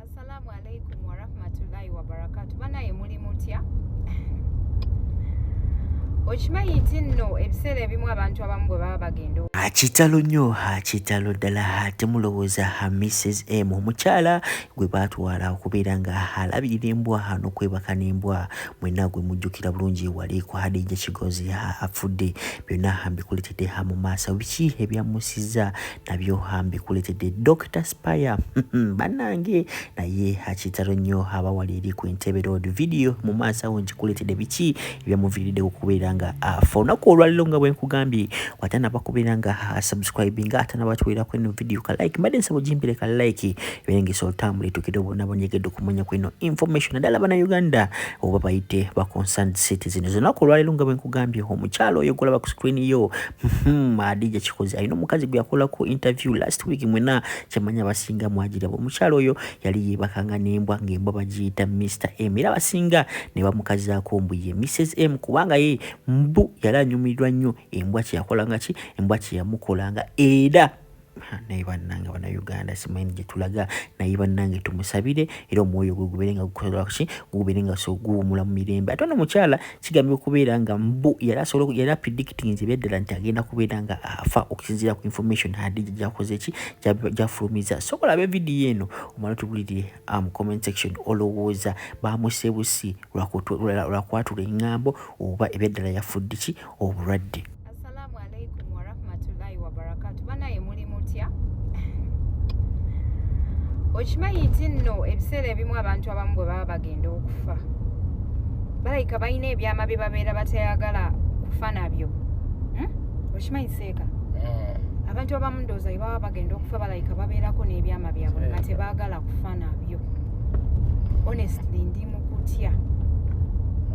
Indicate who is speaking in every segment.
Speaker 1: Assalamu alaikum warahmatullahi wabarakatu banaye muli mutya okimanyi nti nno ebiseera ebimu abantu abamu bwe baba bagenda akitalo nnyo
Speaker 2: akitalo ddala ate mulowooza ha mrs m omukyala gwe baatwala okubeera nga alabirira embwa n'okwebaka n'embwa mwena gwe mujjukira bulungi wali ku hadija kigozi afudde byonna mbikuletedde ha mu maaso biki ebyamusiza nabyoha mbikuletedde dr spire hmm, banange naye akitalo nnyo aba wali eri ku entebe road video mu maaso awo nkikuletedde biki ebyamuviiridde okubeera nga afa olunaku olwaliro nga bwenkugambye watanaba kubeera nga asubscribe nga atanabatwerako eno video ka like mbadde nsaba ogimbire ka like eberengesa olutambula etukire obona bonyegedde okumanya ku eno information naddala bana uganda oba bayite ba concerned cities eno zolunaku olwaliro nga bwenkugambye omukyalo oyo golaba ku screen yo Hmm, adija kikoze alina omukazi gwe yakolako interview last week mwena kyemanya abasinga mwagiraba omukyalo oyo yali yebakanga nembwa ngaembwa bagiyita mr m era abasinga nebamukazaako mbu ye mrs m kubanga ye mbu yali anyumirwa nnyo embwa kyeyakolanga ki embwa kyeyamukolanga era naye bannange bannayuganda simanyi gye tulaga naye bannange tumusabire era omwoyo gwe gubeere nga gukolaki gubeere nga so guwumula mu mirembe ate ono mukyala kigambye okubeera nga mbu yali asobola yali apredictinze ebyaddala nti agenda kubeera nga afa okusinziira ku information hadija gyakoze ki gyafulumiza sobola abe vidiyo eno omala tubulirire ah, mu comment section olowooza bamusebusi lwakwatula engambo oba ebyaddala yafudde ki obulwadde assalamu alaikum
Speaker 1: warahmatullahi wabarakatu banaye muli mutya okimanyi nti nno ebiseera ebimu abantu abamu bwe baba bagenda okufa balayika balina ebyama bye babeera batayagala kufa nabyo hmm? okimanyi seeka ah. abantu abamu ndooza bwe baba bagenda okufa balayika babeerako n'ebyama byabwe nga tebagala kufa nabyo honestly ndi mukutya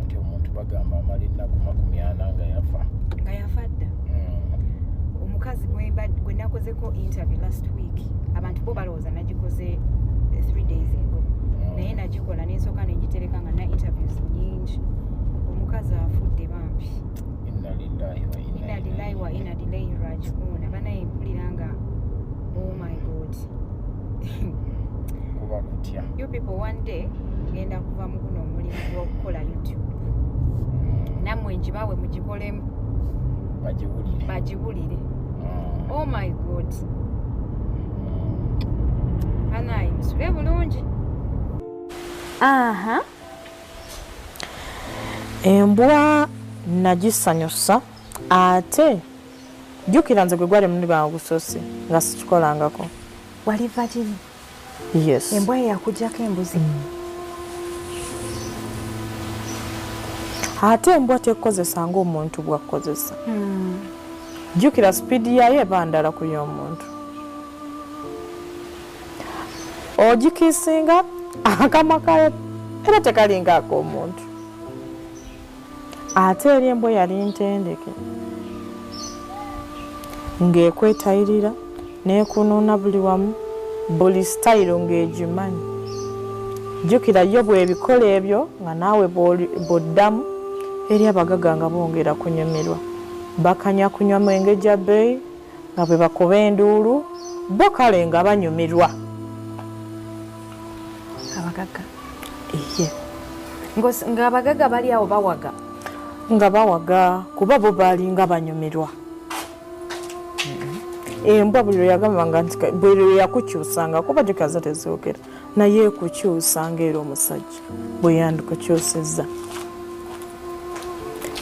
Speaker 3: nti omuntu bagamba amala ennaku makumi ana nga yafa nga yafa dda mm.
Speaker 1: omukazi gwe nakozeko interview last week abantu bo balowooza nagikoze eh, three days ago mm. naye nagikola nensooka nengitereka nga na interviews nyingi omukazi afudde bambi
Speaker 3: inalilahi wa inalilahi
Speaker 1: rajiuna banaye mpulira nga oh my god
Speaker 3: kuba kutya you people one day
Speaker 1: ngenda kuva mu guno omulimu gw'okukola youtube mm. nammwe ngibawe mugikolemu bagiwulire bagiwulire mm. oh my god mm. anayi musule bulungi aha
Speaker 4: embwa nagisanyusa ate Jjukira nze gwe gwali omulundi gwange ogusoosi nga sikikolangako. Wali vagini?
Speaker 1: Yes.
Speaker 4: Embwa ye yakujjako
Speaker 1: embuzi? Mm.
Speaker 4: Ate embwa tekukozesa ng'omuntu bw'akukozesa. Mm. Jjukira sipiidi yaayo eba ndala ku y'omuntu. Ogikiisinga akamwa kayo era tekalinga ak'omuntu. ate eri embwa yali ntendeke ng'ekwetayirira n'ekunuuna buli wamu buli sitayiro ng'egimanyi jjukira yo bwebikola ebyo nga naawe bw'oddamu eri abagaga nga bongera kunyumirwa bakanya kunywa mwenge gya bbeeyi nga bwe bakuba enduulu bo kale nga banyumirwa
Speaker 1: abagaga ng'abagaga bali awo bawaga nga bawaga
Speaker 4: kuba bo baalinga banyumirwa embwa buli lwe yagambanga nti buli lwe yakukyusanga kuba gikaza tezoogera naye ekukyusa ngaera omusajja bwe yandikukyusizza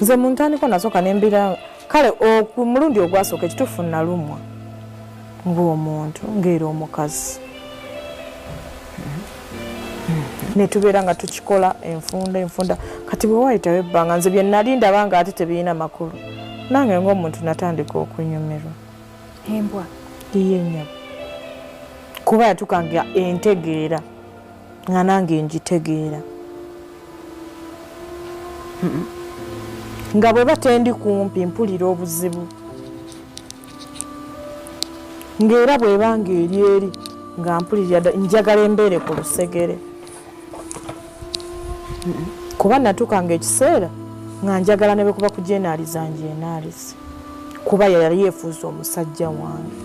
Speaker 4: nze mu ntandiko nasooka nembira kale omulundi ogwasooka ekituufu nalumwa ng'omuntu ng'era omukazi ne tubeera nga tukikola enfunda enfunda kati bwe waayitawo ebbanga nze bye nali ndaba nga ate tebirina makulu nange ng'omuntu natandika okunyumirwa embwa
Speaker 1: iye
Speaker 4: nyabo kuba yatukanga entegeera nga nange ngitegeera nga bwe batendi kumpi mpulira obuzibu ng'era bwebanga eri eri nga mpulirira njagala embeere ku lusegere kuba natuuka nga ekiseera nga njagala nebwekuba kujenaaliza njenaalize kuba yayali yefuuza omusajja wange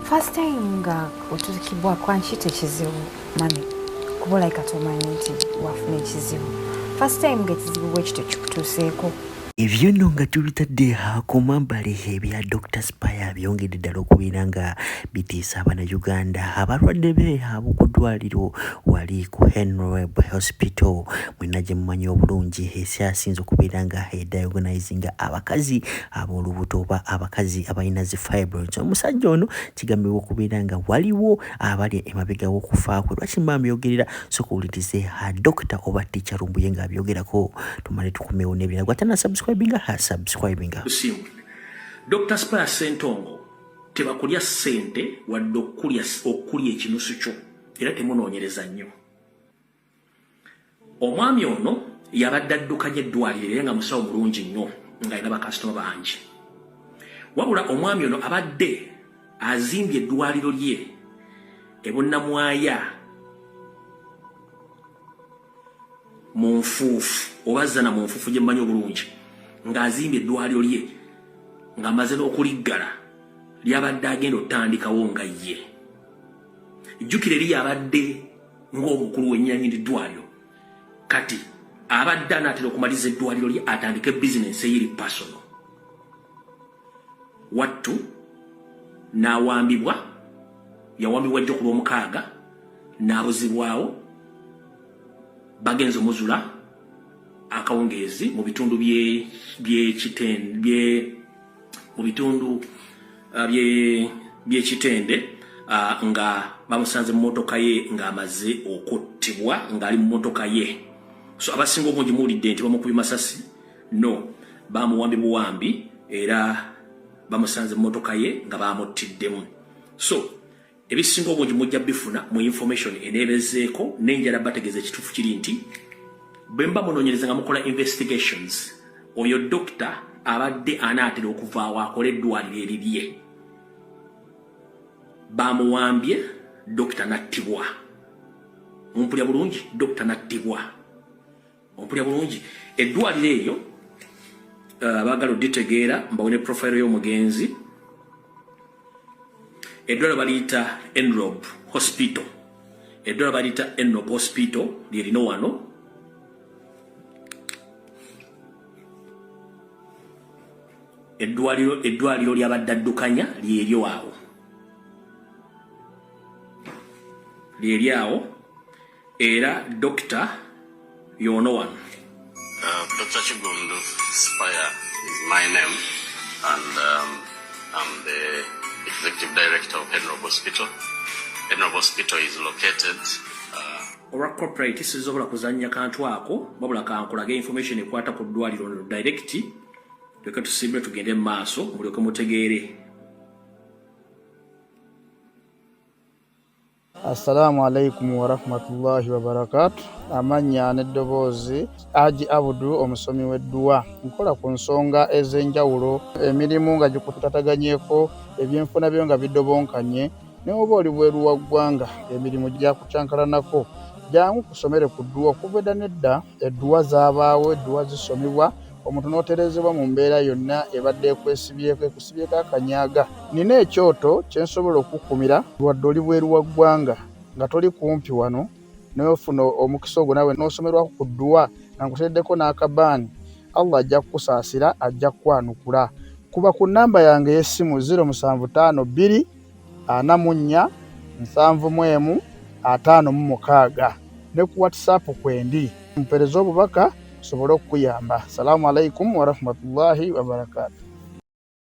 Speaker 1: first time nga otuukibwa
Speaker 4: kwanki
Speaker 1: tekizibu mami kuba olaika tomanyi nti wafuna ekizibu first time nga ekizibu bwekityo kikutuuseeko Ebyo nno
Speaker 2: nga tubitadde ku mabbali ebya Dokita Spire byongedde ddala okubeera nga bitiisa Abanayuganda abalwadde be ab'oku ddwaliro wali ku Henreb Hospital mwenna gye mumanyi obulungi esyasinze okubeera nga ediagonizinga abakazi ab'olubuto oba abakazi abalina zi fibroids. Omusajja ono kigambibwa okubeera nga waliwo abali emabega w'okufa kwe lwaki mba mbyogerera soka owulirize ha dokita oba ticha lumbuye nga abyogerako tumale tukomewo n'ebirala gwe atana subscribinga ha subscribinga
Speaker 5: dr spire sentongo tebakulya ssente wadde okulya ekinusu kyo era temunoonyereza nnyo omwami ono yabadde addukanya eddwaliro era nga musawo mulungi nnyo ng'alina bakasitoma bangi wabula omwami ono abadde azimbye eddwaliro lye ebunnamwaya mu nfuufu oba zana mu nfuufu gye mmanyi obulungi ng'azimbye eddwaliro lye ng'amaze n'okuliggala lyabadde agenda otandikawo nga ye jjukira eri yabadde ng'omukulu w'ennyanyi liddwaliro kati abadde anaatera okumaliza eddwaliro lye atandike bizinensi eyiri pasono wattu n'awambibwa yawambibwa jjo ku lw'omukaaga n'abuzibwawo bagenze omuzula akawungeezi mu bitundu by'ekiten bye mu bitundu uh, by'ekitende uh, nga bamusanze mu motoka ye ng'amaze okuttibwa ng'ali mu motoka ye so abasinga obungi muwulidde nti bamukubye masasi no bamuwambi buwambi era bamusanze mu motoka ye nga bamuttiddemu so ebisinga obungi mujja bifuna mu information eneebezeeko n'enjala bategeeza ekituufu kiri nti bwe mba munoonyereza nga mukola investigations oyo dokita abadde anaatera okuvaawo akole eddwaliro erirye bamuwambye dokita nattibwa mumpulya bulungi dokita nattibwa ompulya bulungi eddwaliro eryo uh, baagala oditegeera mbawe ne profile y'omugenzi eddwaliro baliyita enrob hospital eddwaliro baliyita enrob hospital lyerino wano eddwaliro eddwaliro lyabaddaddukanya lyeryo awo lyeryawo era dokita yono wano uh, dr
Speaker 6: kigundu spire is my name and um, i'm the executive director of henrob hospital henrob hospital is located uh, olwa
Speaker 5: corporate sisobola kuzanya kantu ako babula kankulage information ekwata ku ddwaliro no direct leka tusimbule tugende mu maaso mulyoke mutegeere
Speaker 7: Assalamu alaikum warahmatullahi wabarakatu. Amannya n'eddoboozi Haji Abudu, omusomi w'edduwa. Nkola ku nsonga ez'enjawulo, emirimu nga gikutataganyeko, ebyenfuna byo nga bidobonkanye, ne oba oli bweru wa ggwanga emirimu gyakucankalanako, jangu kusomere ku dduwa okuva edda n'edda. Edduwa zaabaawo, edduwa zisomebwa, omuntu n'otereezebwa mu mbeera yonna ebadde ekwesibyeko, ekusibyeko akanyaaga. Nnina ekyoto kye nsobola okukukumira. Wadde oli bweru wa ggwanga, nga toli kumpi wano, naye ofuna omukisa ogwo naawe n'osomerwako ku dduwa nga nkuteereddeko n'akabaani, Allah ajja kukusaasira, ajja kukwanukula. Kuba ku nnamba yange ey'essimu, ziro musanvu ttaano bbiri. ana mu nnya, nsanvu mu emu, ataano mu mukaaga ne ku WhatsApp kwendi. Mpereza obubaka nsobole okukuyamba. Salamu alaikum warahmatullahi wabarakatuh.